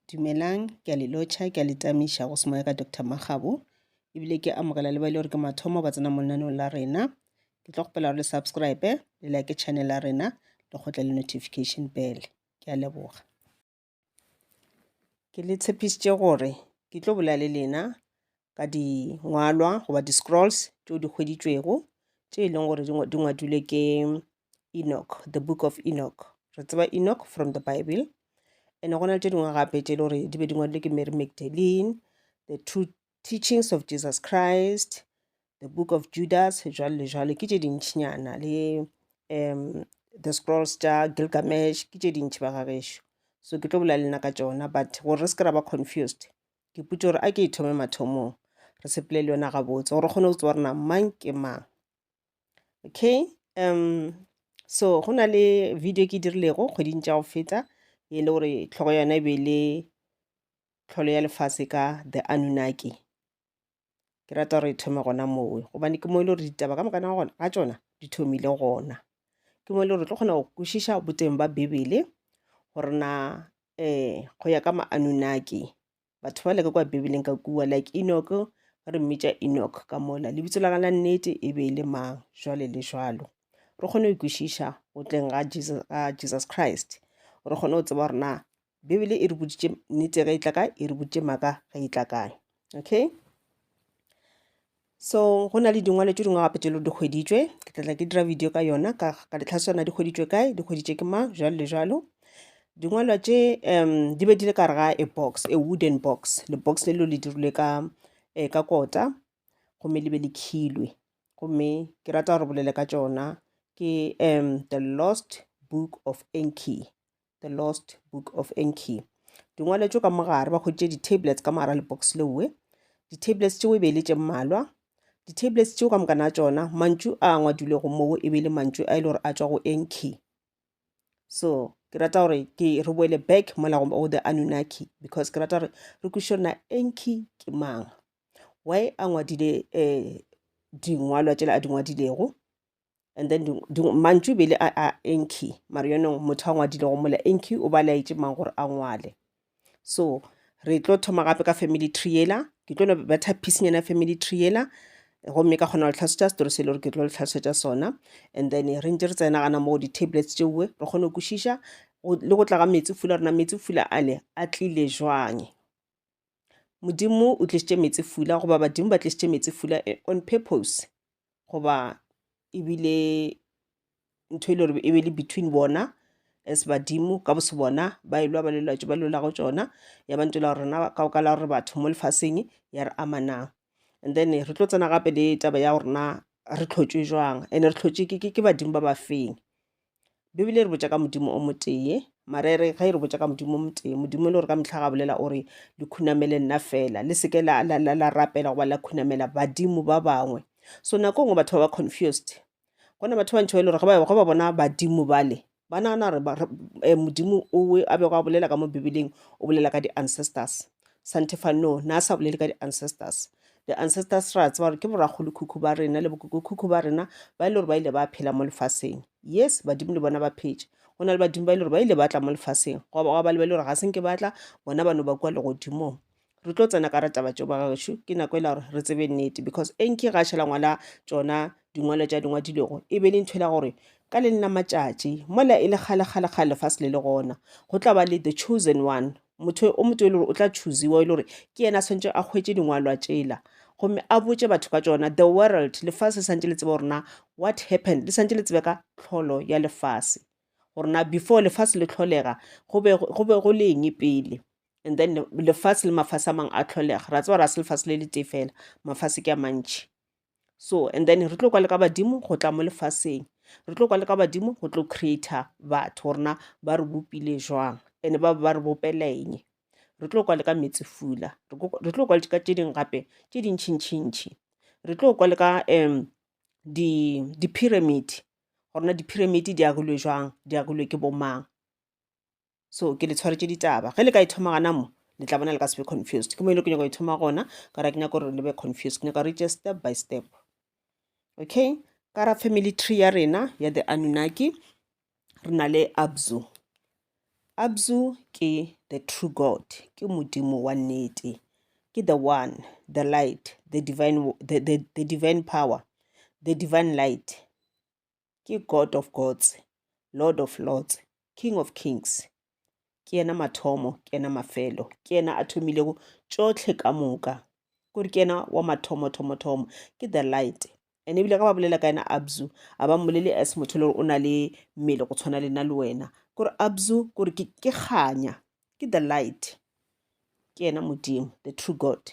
Dumelang, ke a le lotšha, ke a le tamiša go semoya ka Doctor Makgabo, ebile ke amogela le ba e le gore ke mathomo ba tsena mo lenaneong la rena. Ke tlo kgopela gore le subscribe, le like channel ya rena, le kgotle le notification bell. Ke a leboga. Ke le tshepišitše gore ke tlo bolela le lena ka dingwalwa goba di-scrolls tšeo di hweditšwego tše e leng gore di ngwa- di ngwadilwe ke Enoch, the book of Enoch. Re tseba Enoch from the Bible. Ene go na le tše dingwe gape tše e le gore di be di ngwadilwe ke Mary Magdalene, the true teachings of Jesus Christ, the book of Judas, jwalo le jwalo. Ke tše dintšhinyana le um the scrolls tša Gilgamesh, ke tše dintši ba gagešo. So ke tlo bolela lena ka tšona, but gore re se ke ra ba confused, ke putše gore a ke e thome mathomong re sepele le yona gabotse gore kgone go tseba gore na mang ke mang okay um so go na le video ke dirilego kgweding tša go feta e le gore tlhogo yona e be le tlholo ya lefase ka the anunaki ke rata gore e thome gona moo gobane ke mo e le gore ditaba ka mokana gona ga tsona di thomile gona ke mo e le gore tlo kgona go kwešiša boteng ba bibele gore na um go ya ka maanunaki batho ba leka kwa bibeleng ka kua like enoch ba re mmitša enoch ka mola lebitso la gana nnete e be e le mang jwale le jwalo re kgone go ikwešiša go tleng ga jesus, ga jesus christ re kgone go tseba gore na bibele e re boditše nnete ge e tla kae e re boditše maaka ge e tla kae okay so go na le dingwalo tše dingwe gape tše le di hweditšwe ke tlatla ke dira video ka yona ka ka ditlhaswana di hweditšwe kae di hweditše ke mang jalo le jalo dingwalwa tše um di be di le ka re ga a box a wooden box le box le lo le dirilwe ka um ka kota gomme le be le khilwe gomme ke rata gore bolele ka tšona ke um the lost book of enki The Lost Book of Enki. Di ngwaletšwe ka mogare ba kgotše di-tablets ka mogara le box lewe. Di-tablets tšeo e be e le tše mmalwa. Di-tablets tšeo ka mokana tšona mantšu a a ngwadilego moo e be e le mantšu a e le gore a tšwa go Enki. So ke rata gore ke re boele back mola go o the Anunnaki because ke rata gore re kwiše na Enki ke mang. Why a ngwadile um dingwalwa tšela a di ngwadilego. and then mantšu e bele a enki mare yonong motho a ngwadile go mola enki o ba laetse mang gore a ngwale so re tlo thoma gape ka family tree yela ke tlo betha piecenyana family tree yela gomme ka kgona go tlhalosetša setori se e le gore ke tlo le tlhalosetša sona and then re ntse re tsena gana mo di-tablets tšeoe re kgone go kwešiša le go tla ga metsi fula rena metsi fula ale a tlile jwang modimo o tlišitše meetse fula goba badimo ba tlišitše meetse fula eh, on purpose goba ebile ntho e le gore e be le between bona as badimo ka bose bona ba elwa ba lelwatso ba lelago tsona ya ba ntela gore rena ka oka la gore batho mo lefaseng ya re amanang and then re tlo tsena gape le taba ya gorena re tlhotšwe jwang and re tlhotšwe ke badimo ba ba feng bibele e re botša ka modimo o motee marere ga e re botša ka modimo o motee modimo e le gore ka metlha ga bolela o re le khunamele nna fela le seke la, la, la, la rapela goba la khunamela badimo ba bangwe so nako ngwe batho ba ba confused go na batho ba ntšho e le gore ge ba bona badimo bale ba nagana gore eh, modimo owe a bego a bolela ka mo bibeleng o bolela ka di-ancestors Santefa, No, na sa bolele ka di-ancestors. Di-ancestors ra tseba gore ke borakgolokhukhu ba rena le bokokokhukhu ba rena ba e le gore ba ile ba phela mo lefaseng. Yes, badimo le bona ba phetše. Go na le badimo ba e le gore ba ile ba tla mo lefaseng go ba ba le ba e le gore ga se nke ba tla bona ba no ba kua legodimong re tlo tsena ka rataba tšeo ba gaešo ke nako e la gore re tsebe nnete because enke ga šhela ngwala tsona dingwalo tša dingwa dilego e be le ntho e la gore ka le nna matšatši mola e le kgale kgale kgale lefase le le gona go tla ba le the chosen one motho o motho e le gore o tla choosewa e le gore ke yena a tshwanetse a hwetše dingwalwa tšela gomme a botše batho ka tsona the world lefase le santse le tseba gorena what happened le santse le tsebe ka tlholo ya lefase gorena before lefase le tlholega go be go le eng pele and then lefase le mafase a mangwe a tlholega ra tseba gore a se lefase le le tee fela mafase ke a mantšhi so and then re tlo kwa le ka badimo go tla mo lefaseng re tlo kwa le ka badimo go tlo creator batho gore na ba re bopile jwang and ba ba re bopeleng re tlo kwa le ka metsi fula re tlo kwa le ka tše dingwe gape tše dintšhintšhintšhi re tlo kwa le ka um di-pyramid gorena di-pyramid di agilwe jwang di agilwe ke bomang so ke le tshwaretše ditaba ge le ka e thoma gana mo le tla bona le ka se be confused ke mo e le ke nyaka go e thoma gona ka ra ke nyaka gore le be confused ke nyaka reache step by step okay ka ra family tree ya rena ya the anunaki re na le abzu abzu ke the true god ke modimo wa nnete ke the one the light the divine, the, the, the divine power the divine light ke God of gods, Lord of lords, King of kings. Ke yena mathomo, ke yena mafelo, ke yena a thomilego tšohle ka moka. Kore ke yena wa mathomo, thomo, thomo. Ke the light. And ebile ga ba bolela ka yena Abzu, a ba mmolele as motho le gore o na le mmele go tshwana le nna le wena. Kore Abzu, kore ke kganya, ke the light. Ke yena Modimo, the true God.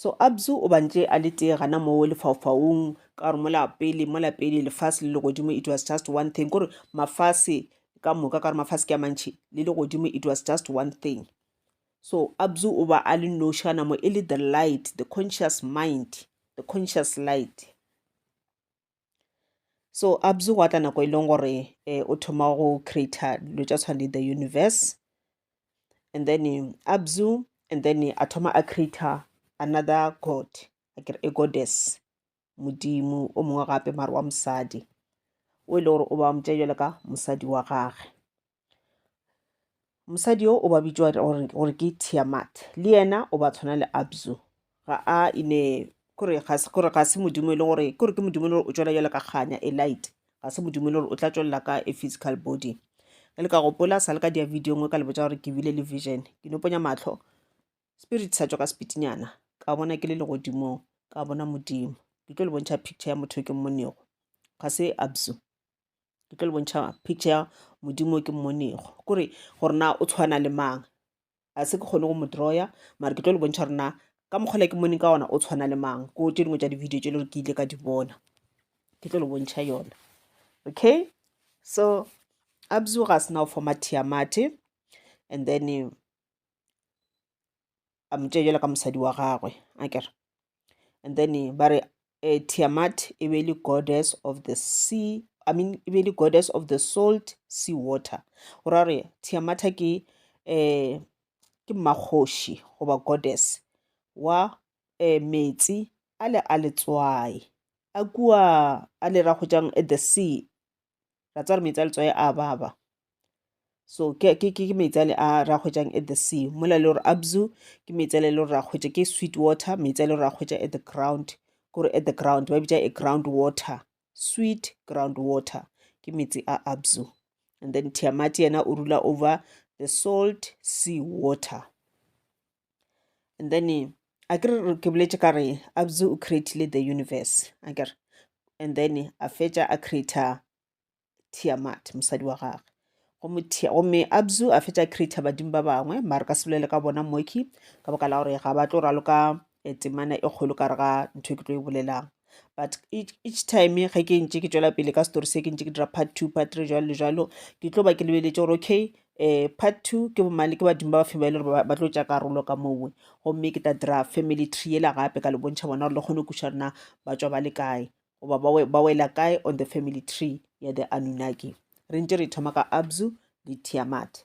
so abzu o bantše a le tee gana moo lefaufaung ka gore mola pele mola pele lefase le legodimo it was just one thing kore mafase ka moka ka gore mafase ke a mantšhi le legodimo it was just one thing so abzu o ba a le noši gana mo e le the light the conscious mind the conscious light so abzu gwa tla nako e leng gore eh, o thoma go creata dilo tša tshwana le the universe and then eh, abzu and then eh, a thoma a creata another god akere a goddess modimo o mongwe gape mare wa mosadi o e le gore o ba motša jalo ka mosadi wa gage mosadi yo o ba bitšwa gore ke tiamat le yena o ba tshwana le abzu ga a ine kore ga se modimo e le gore kore ke modimo e le gore o tšwela jalo ka kganya e light ga se modimo e le gore o tla tšwelela ka e physical body ge le ka gopola sa le ka dia video nngwe ka le botsa gore ke bile le vision ke noponya matlho spirit sa tswa ka sepitinyana ka bona ke le legodimong ka bona modimo ke tlo le bontšha picture ya motho ke mmonego ga se abzu ke tlo le bontšha picture ya modimo ke mmonego kore gore na o tshwana le mang a se ke kgone go mo drawer mara ke tlo le bontšha gore na ka mokgwele ke moneng ka ona o tshwana le mang ko tse dingwe tsa di-video tse e le gore ke ile ka di bona ke tlo le bontšha yona okay so abzu ga se na go forma tiamate and then a mo tšea jalo ka mosadi wa gagwe a kere and then ba re uh, tiamat e be le goddess of the sea i mean e be le goddess of the salt sea water go ra gore tiamata ke um ke mmakgoši goba goddess wa um metsi a le a letswai a kua a le ra go jang at the sea ra tswa re metsi a letswae a baba so ke metsi a le a ra hwetšang at the sea mola le gore abzu ke metsi a le le gore ra hwetša ke sweet water metsi a le gore ra hwetša at the ground kore at the ground ba bitša a ground water sweet ground water ke metsi a abzu and then tiamati yena o rula over the salt sea water and then a ke ke boletse ka re abzu o creatile the universe a kere and then a fetša a creator tiamat mosadi wa gagwe gomme abzu a fetša a creator badimo ba bangwe mare ka sebolele ka bona moki ka baka la gore ga ba tlo raloka eh, temana e kgolo ka re ga ntho e ke tlo e bolelang but each time ge ke ntse ke tswela pele ka story se ke ntse ke dira part two part three jalo le jalo ke tlo ba ke lebeletse gore okay um part two ke bomane ke badimo ba ba fe ba e le gore ba tlo tša karolo ka mowe gomme ke tla dira family tree ela gape ka le bontšha bona gore le kgone go kuša rena ba tswa ba le kae goba ba wela kae on the family tree ya the anunaki re ntse re thoma ka abzu le tiamat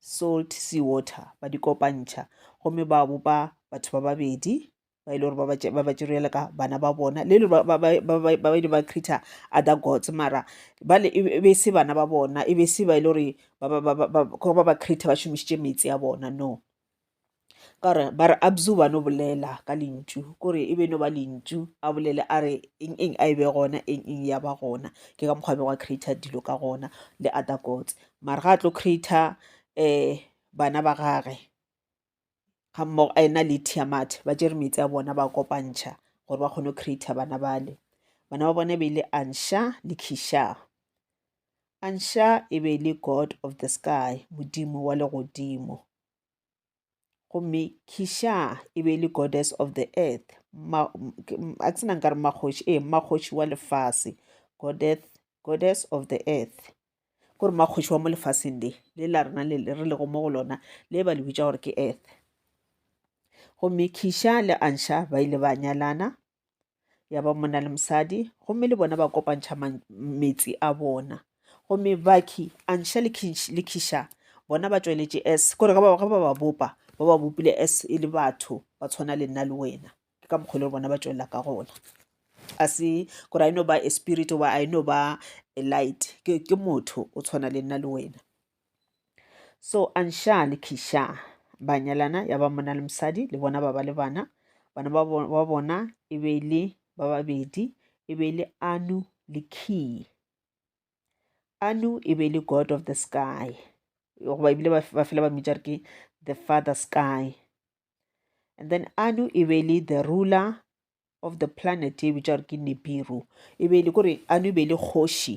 salt sea water ba di kopantšha gomme ba bopa batho ba babedi ba e le gore ba ba tšerele ka bana ba bona le le ba ile ba creator other gods mara bale e, e be se bana ba bona e be se ba e le gore ba ba creator ba šomišitše metsi a bona no ka gore ba re abzu ba no bolela ka lentšu kore e be no ba lentšu a bolele a re eng eng a e be gona eng eng ya ba gona ke ka mokgwa bego a creata dilo ka gona le other gods mara ga a tlo creata um eh, bana ba gage ga mmogo a ena le tiamat ba jere metsi a bona ba kopantšha gore ba kgone go creata bana bale bana ba bona e be e le ansha le kisha A nxa e be e le God of the sky, modimo wa legodimo. Gomme Kisha e be e le goddess of the earth, a ke sena nkare makgoši, ee makgoši wa lefase, goddess, goddess of the earth. Kore makgoši wa mo lefaseng le, le la rena le re lego mo go lona, le ba le bitša gore ke earth. Gomme Kisha le Ansha ba ile ba nyalana, ya ba monna le mosadi gomme le bona ba kopantšha metsi a bona gomme baki anša le khiša bona ba tšweletše s kore ge ba ba bopa ba ba bopile s e le batho ba tshwana le nna le wena ke ka mokgwa le bona ba tšwelela ka gona a se kore a e no ba a spirit oba a e no ba a light ke motho o tshwana le nna le wena so ansha le kisha ba nyalana ya ba mona le mosadi le bona ba ba le bana bana ba bo- ba bona e be e le ba babedi e be e le anu le key anu e be e le god of the sky goba ebile ba ba fela ba mmitša re ke the father sky and then anu e be e le the ruler of the planet e bitša gore ke nebiru e be e le kore anu e be e le kgoši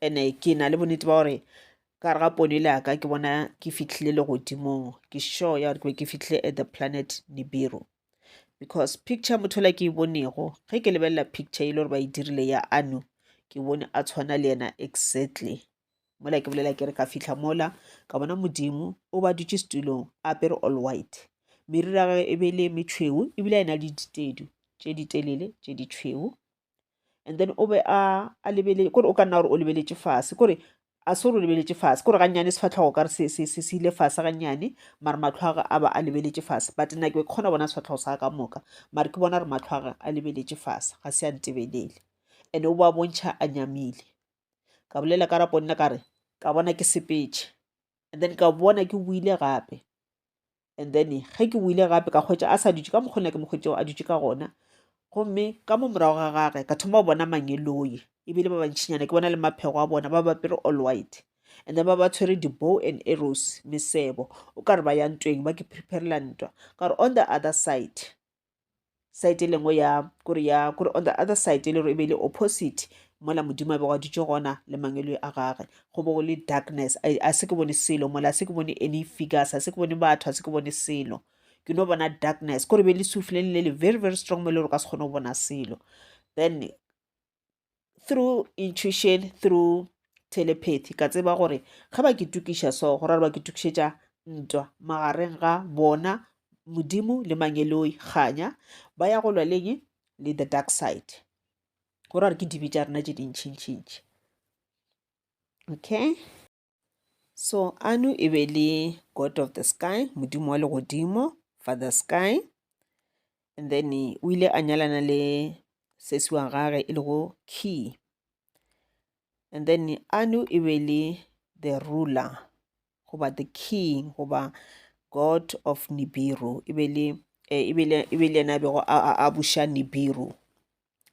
ene ke na le bonnete ba gore ka gare ga pono ile yaka ke bona ke fitlhile legodimong ke sure ya gore ke be ke fitlhile at the planet nibiru because picture motho la ke e bonego ge ke lebelela picture e le gore ba e dirile ya ano ke bone a tshwana le yena exactly mola ke bolela ke re ka fitlha mola ka bona modimo o ba dutse setulong a apere all white meriri ya gage e be le metšhweu ebile a e na le ditedu tše ditelele tše ditšhweu and then o be a a lebelele kore o ka nna gore o lebeletše fase kore a se gore o lebeletše fase kore gannyane sefatlhogo kare se se se se ile fase gannyane mare matlhwaga a ba a lebeletše fase but nna ke kgona bona sefatlhogo sa ka moka mare ke bona re matlhwaga a lebeletše fase ga se a ntebelele and o ba bontšha a nyamile ka bolela ka rapo nna ka re ka bona ke sepetše and then ka bona ke buile gape and then ge ke boile gape ka kgwetša a sa dutše ka mokgona ke mokgwetšeo a dutše ka gona gomme ka mo morago ga gage ka thoma go bona mangeloi ebile ba bantšhinyana ke bona le maphego a bona ba bapere all white and then ba ba tshwere di-bow and arrows mesebo o ka re ba ya ntweng ba ke preparela ntwa ka gore on the other side side e lengwe ya kore ya kore on the other side e le gore e be le opposite mola modimo a bego a dutše gona le mangeloi a gage go bo go le darkness a se ke bone selo mola a se ke bone any figures a se ke bone batho a se ke bone selo ke no bona darkness kore be le sufileng le le very very strong mo e le gore ka se kgone go bona selo then through intuition through telepathy ka tseba gore ge ba ke tukiša so go rare ba ke tukišetša ntwa magareng ga bona modimo le mangeloi kganya ba ya go lwa leng le the dark side go rare ke dibe tša rena tše dintšhintšhintši okay So Anu e be le God of the sky, modimo wa legodimo, Father Sky. And then o ile a nyalana le sesi wa gage e lego Key. And then Anu e be le the ruler goba the king goba God of Nibiru e be le e be le yena a bego a buša Nibiru.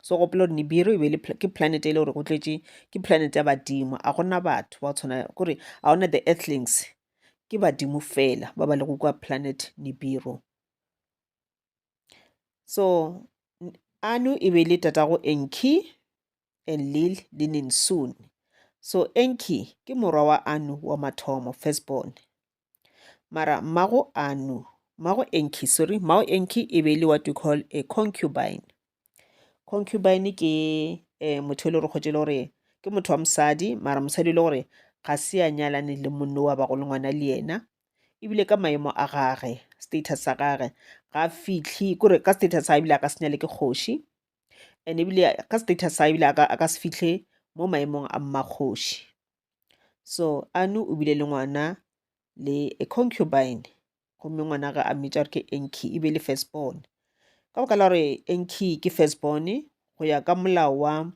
so gopola gore nibiru e be le ke planet e le gore go tletše ke planet ya badimo a gona batho ba tshwana kore a gona the earthlings ke badimo fela ba ba le go kwa planet nibiru so anu e be le tatago enki and lil le ninsoon so enki ke morwa wa anu wa mathomo firstborn mara mmago a no mmago enki sorry mmago enki e be e le what you call a concubine concubine ke um motho e le gore kgotse e le gore ke motho wa mosadi mara mosadi e le gore ga se a nyalane le monno wa bago le ngwana le yena ebile ka maemo a gage status sa gage ga a fitlhe kore ka status sa ebile a ka se nyale ke kgoši and ebile ka status sa ebile a ka se fitlhe mo maemong a mmakgoši. so anu o bile le ngwana le a concubine gomme ngwana ga a mmitša gore ke enki e be le first born ka baka la gore enki ke first born go ya ka molao wa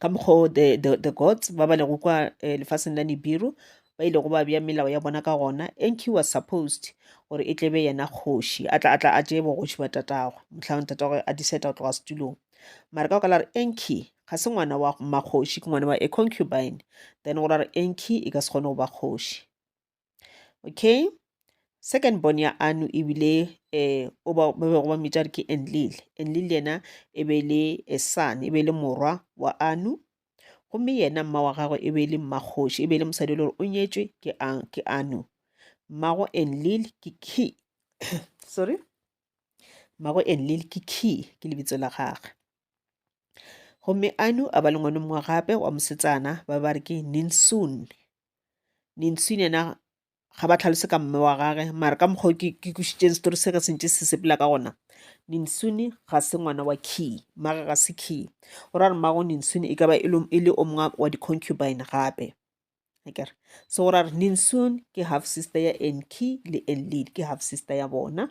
ka mokgwa o the, the, the gods ba ba lego kwa eh, lefaseng la nibiru ba ile go ba bja melao ya bona ka gona enki was supposed gore e tlebe yena kgoši a tla a tla a tšee bogoši ba tatagwe mohlagong tatagwe a diseta go tloga setulong mara ka baka la re enki ga se ngwana wa mmakgoši ke ngwana wa a concubine then go ra re enki e ka se kgone go ba kgoši okay second born ya anu ebile eh o ba be go ba mmitša re ke enlile enlile yena e be le a son e be le morwa wa anu gomme yena mma wa gagwe e be le mmakgoši e be le mosadi e le gore o nyetšwe ke a ke anu mmago enlile ke key sorry mmago enlil ke key ke lebitso la gagwe gomme anu a ba le ngwana mongwe gape wa mosetsana ba ba re ke ninsun ninsun yena ga ba tlhalose ka mme wa gage mare ka mokgwa ke ke kwešitšeng setori se ka sentše se sepela ka gona ninsuni ga se ngwana wa key mmaga ga se key o ra re mmago ninsuni e ka ba e le o mongwe wa di-concubine gape akere so go ra re ninsun ke half sister ya enki le enlid ke half sister ya bona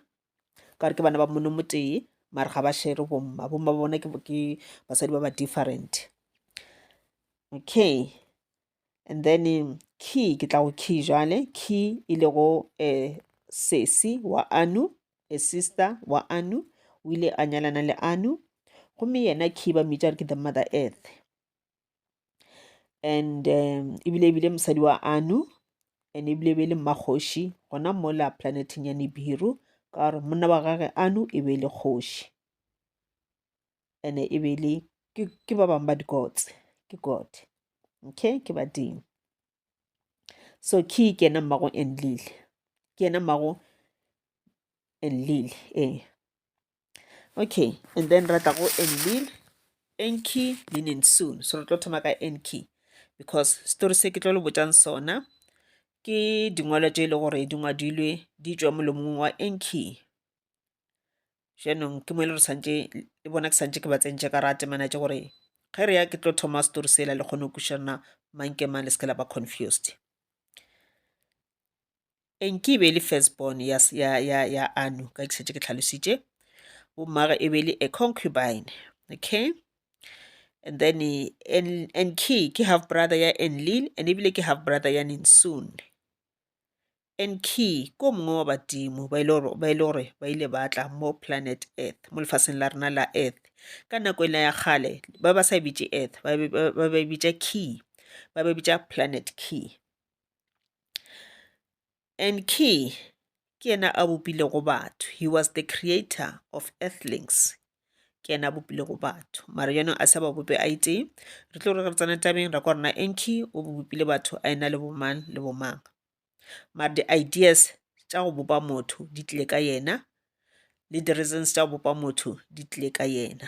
ka gore ke bana ba mono motee mare ga ba shere bomma bomma ba bona ke basadi ba ba different okay and then key ke tla go key jale key e le go um eh, sesi wa anu a sister wa anu o ile a nyalana le anu gomme yena key ba mmitša re ke the mother earth and um ebile ebile mosadi wa anu and ebile e be le mmakgoši gona mola planeteng ya nibiru ka gore monna wa gage anu e be le kgoši ene e be le ke ba bangwe ba dikotse ke god okay ke badimo so ke ke ena mmago enlile ke ena mmago enlile ee okay and then ra tla go enlil enki meaning soon so re tlo thoma ka enki because story se ke tlo le botjang sona ke dingwalo tše e le gore di ngwadilwe di tšwa molomong wa enki jaanong ke mo e le re santse le bona ke santse ke ba tsentše ka ra temana tše gore ge re ya ke tlo thoma story sela le kgone go kušana mang ke mang le se ke la ba confused eng ke e be e le first born ya, ya, ya, ya anu ka ke šetše ke tlhalositše bommage e be e le a concubine okay and then en, en ke ke half brother ya enlil and ebile ke half brother ya ninsoon en ke ko mongwe wa badimo ba e le gore ba ile ba tla mo planet earth mo lefaseng la rena la earth ka nako e la ya kgale ba ba sa e bitše earth ba ba e bitša key ba ba e bitša planet key and ke ke yena a bopilego batho he was the creator of earthlings ke yena a bopilego batho mara yona a sa ba bope a itee re tlo re re tsena tabeng ra kwa rena enki o bopile batho a ena le bomang le bomang mara di-ideas tša go bopa motho di tlile ka yena le di-reasons tša go bopa motho di tlile ka yena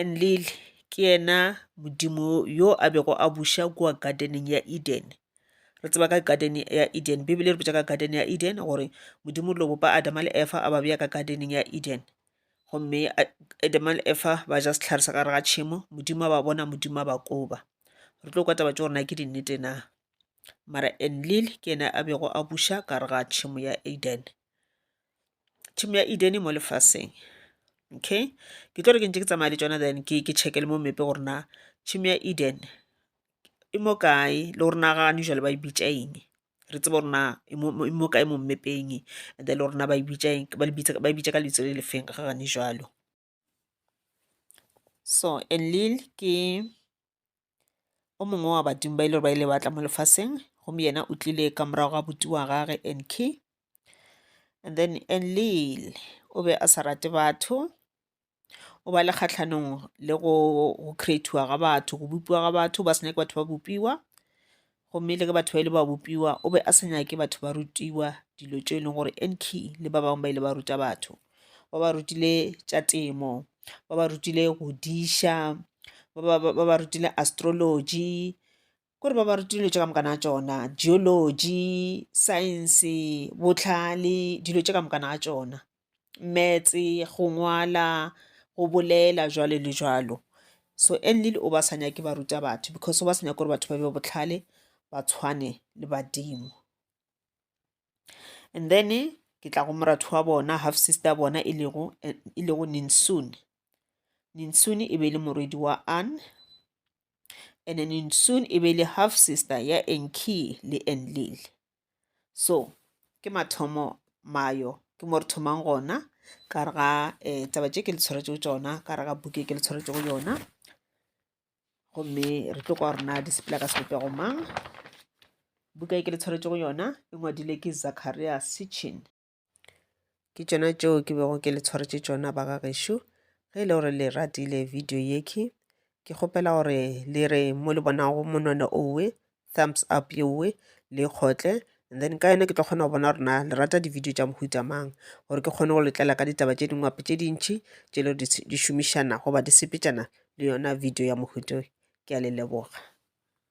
Enlil ke yena modimo yo a bego a buša kua gardeneng ya Eden. Re tseba ka garden ya Eden, Bibele e re bitša ka garden ya Eden gore modimo lo bopa Adama le Efa a ba beya ka gardeneng ya Eden. Gomme Adama le Efa ba ja sehlare sa gare ga tšhemo, modimo a ba bona, modimo a ba koba. Re tlo kwa taba tše gore na ke dinnete na. Mara Enlil ke yena a bego a buša ka gare ga tšhemo ya Eden. tšhemo ya edene mo lefaseng okay ke tlo re ke ntse ke tsamaya le tsona then ke ke check le mo mmepe gore na tšhemo ya eden e mo kae le gore na gane jale ba e bitša eng re tsebe gore na e mo kae mo mmepeng and then le gore na ba e bitša eng ba e bitsa ka lentšu le le feng ga gane jwalo. so enlil ke o mongwe wa badimo ba ile gore ba ile batla mo lefaseng gomme yena o tlile ka morago ga buti wa gage enki and then enlil o be a sa rate batho o ba le kgatlhanong le go creatiwa ga batho go bopiwa ga batho ba se nyake batho ba bopiwa Gomme le ge batho ba ile ba bopiwa, o be a sa nyake batho ba rutiwa dilo tšeo e leng gore Enki le ba bangwe ba ile ba ruta batho. Ba ba rutile tša temo, ba ba rutile go diša, ba ba rutile astrology, kore ba ba rutile dilo tše ka moka na tšona, geology, science, bohlale, dilo tše ka moka na tšona. meetse go ngwala go bolela jwalo le jwalo so Enlil o ba sa nyake ba ruta batho because o ba sa nyake gore batho ba be botlhale ba tshwane le badimo and then ke tla go moratho wa bona half sister bona e lego e lego ninsune ninsune e be le morwedi wa an and ninsune e be le half sister ya enki le enlil so ke mathomo mayo ke mo re thomang gona ka re ga um taba tše ke le tshwaretšego tsona ka re ga buke ke le tshwaretšego yona gomme re tlo kwa rena di sepela ka sebopego mang buka e ke le tshwaretšego yona e ngwadile ke zacharia sitchin ke tšona tšeo ke bego ke le tshwaretše tšona ba ga gešo ge e le gore le ratile video yeke ke kgopela gore le re mo le bonago monwana owe thumbs up yeowe le kgotle and then ka yone ke tlo kgona go bona rena le rata di-video tša mohuta mang gore ke kgone go letlela ka ditaba tše dingwe gape tše dintšhi tše le di šomišana goba di sepetšana le yona video ya mohuta ke a le leboga